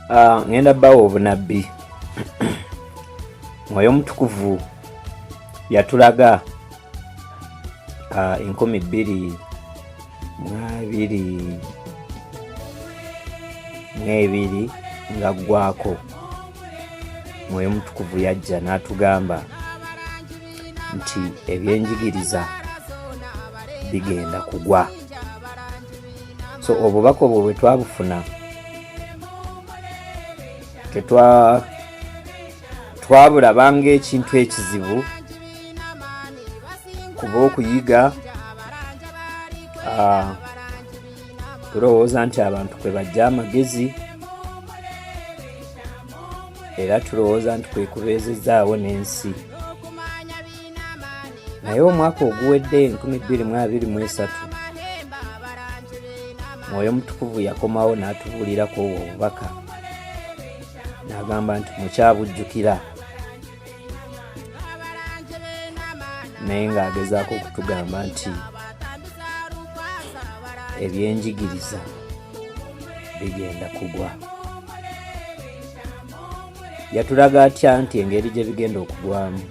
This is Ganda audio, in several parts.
Ah, ngenda bawa obunabbi mwoyo omutukuvu yatulaga ah, enkumi bbiri mwabiri mwebiri nga ggwako mwoyo omutukuvu yajja n'atugamba nti ebyenjigiriza bigenda kugwa so obubaka obwo bwe twabufuna twabulaba ngaekintu ekizibu kuba okuyiga ah, tulowooza nti abantu kwe bajja amagezi era tulowooza nti kwekubeezezaawo n'ensi naye omwaka oguwedde 2023 mwoyo mutukuvu yakomawo n'atubuulirako obwo obubaka n'agamba nti mukyabujjukira naye ng'agezaako okutugamba nti ebyenjigiriza bigenda kugwa yatulaga atya nti engeri gye bigenda okugwamu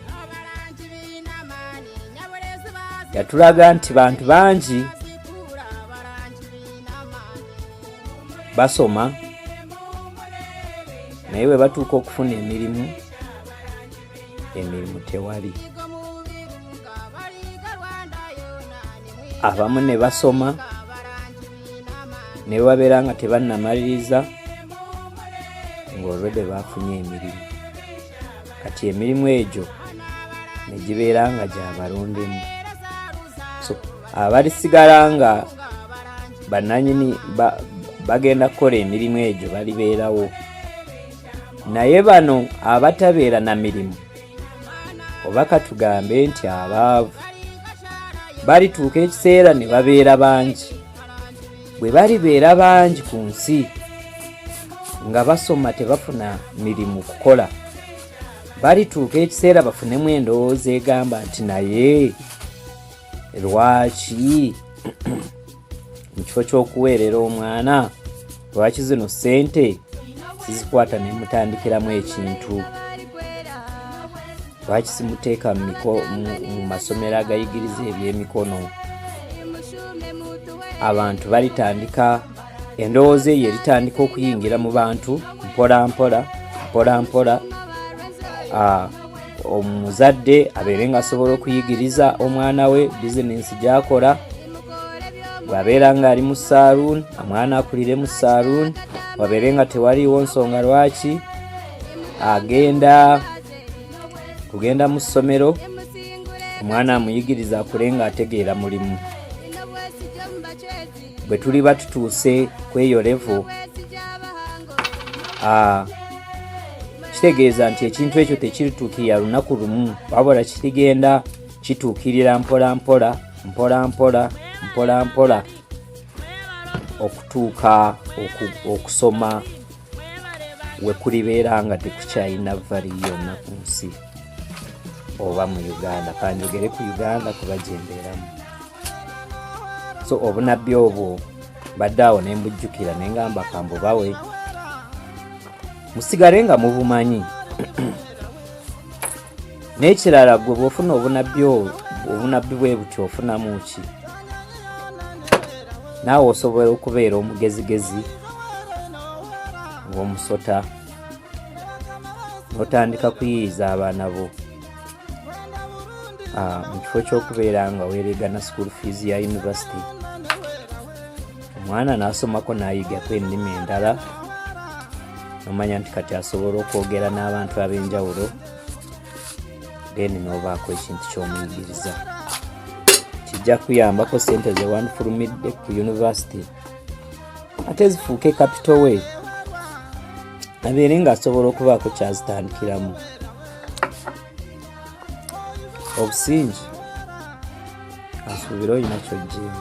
yatulaga nti bantu bangi basoma naye bwe batuuka okufuna emirimu emirimu tewali abamu ne basoma ne babeera nga tebannamaliriza ng'olwedde baafunye emirimu kati emirimu egyo ne gibeera nga gyabalondemu so abalisigala nga bananyini bagenda kukola emirimu egyo balibeerawo naye bano abatabeera na mirimu oba katugambe nti abaavu balituuka ekiseera ne babeera bangi bwe balibeera bangi ku nsi nga basoma tebafuna mirimu kukola balituuka ekiseera bafunemu endowooza egamba nti naye lwaki mu kifo ky'okuweerera omwana lwaki zino ssente sizikwata ne mutandikiramu ekintu lwaki simuteeka mu masomero agayigiriza ebyemikono abantu balitandika endowooza eyo eritandika okuyingira mu bantu mpola mpola mpola mpola ah, omuzadde abeere nga asobola okuyigiriza omwana we bizinensi gyakola bwabeera nga ali mu saluun omwana akulire mu saluun wabeere nga tewaliiwo nsonga lwaki agenda kugenda mu ssomero omwana amuyigiriza akule nga ategeera mulimu bwe tuliba tutuuse ku eyo levo ah, kitegeeza nti ekintu ekyo tekirituukirira lunaku lumu wabula kirigenda kituukirira mpola mpola mpola mpola mpola mpola okutuuka okusoma wekulibeera nga tekukyalina vali yonna ku nsi oba mu uganda kanjogere ku uganda kuba gyembeeramu so obunabbi obwo mbadde awo ne mbujjukira ne ngamba kambubawe musigale nga mubumanyi n'ekirala gwe bwofuna obunabbi obwo obunabbi bwe buti ofunamu ki naawe osobola okubeera omugezigezi ng'omusota n'otandika kuyiyiza abaana bo ah, mu kifo ky'okubeera nga weeregana school fees ya yunivasite omwana n'asomako n'ayigako ennimi endala nomanya nti kati asobola okwogera n'abantu ab'enjawulo then n'obaako ekintu ky'omuyigiriza kijja kuyambako sente zewanfulumidde ku yunivasite ate zifuuke kapito we abeere ng'asobola okubaako kyazitandikiramu obusingi asuubire olina kyojjeemu